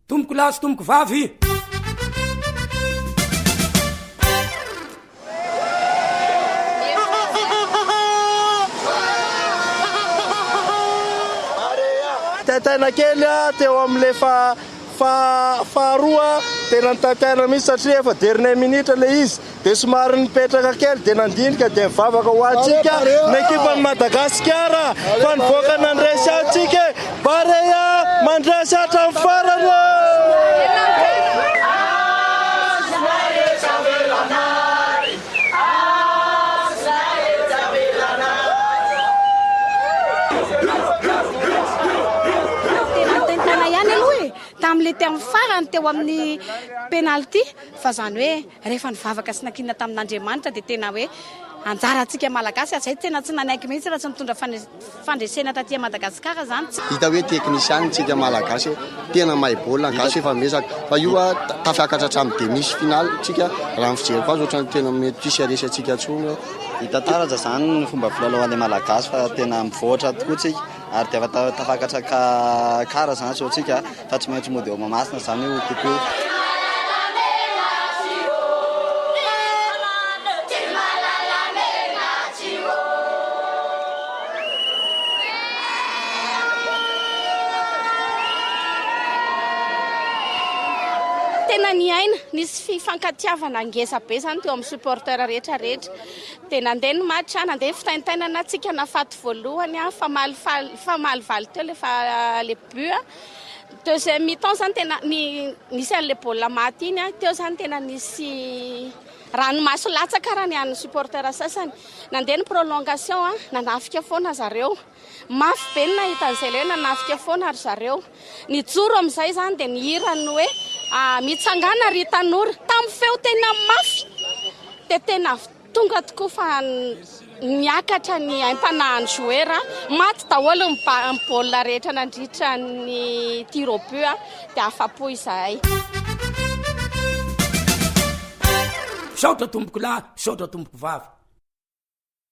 Tompoko lahy sy tompoko vavy. Taitaina kely aho teo amin'ilay faharoa, tena nitaitaina mihitsy satria efa dernière minute ilay izy. Dia somary nipetraka kely dia nandinika dia nivavaka ho antsika ny ekipan'i Madagasikara fa nivoaka nandresy antsika e! Barea mandresy hatramin'ny farany ô! Rehefa nivavaka sy nankinina tamin'Andriamanitra dia tena hoe anjarantsika Malagasy hatrizay tena tsy nanaiky mihitsy raha tsy nitondra fandresena taty Madagascar izany. Hita hoe teknisianina tsika malagasy e! Tena mahay baolina ny gasy efa miezaka fa io a tafiakatra hatramin'ny demi sy finale tsika raha ny fijeriko azy otrany tena mety tsy hisy haresy antsika tsony eo. Hita tsara za zany ny fomba filalaoan'ny malagasy fa tena mivoatra tokoa tsika ary dia efa tafakatra ka kara zany zao tsika a. Fa tsy maintsy mody ao Mahamasina izany io kokoa. tena niaina, nisy fifankatiavana ngeza be zany teo amin'ny supporter rehetra rehetra. Dia nandeha ny match, nandeha ny fitaintainana, tsika nafaty voalohany, famalifaly, famalivaly teo le fa le Deuxième mi-temps zany tena nisy an'ilay baolina maty iny, teo zany tena nisy ranomaso latsaka raha ny an'ny supporter sasany. Nandeha ny prolongation, nanafika foana zareo. Mafy be ny nahita an'izay ilay hoe nanafika foana ry zareo. Nijoro amin'izay zany dia nihira ny hoe ah, mitsangana ry tanora. Tamin'ny feo tena mafy dia tena Tonga tokoa fa niakatra ny aim-panahin'i Jouer. Maty daholo ny baolina rehetra nandritra ny tir au but dia afa-po izahay. Misaotra tompokolahy, misaotra tompokovavy.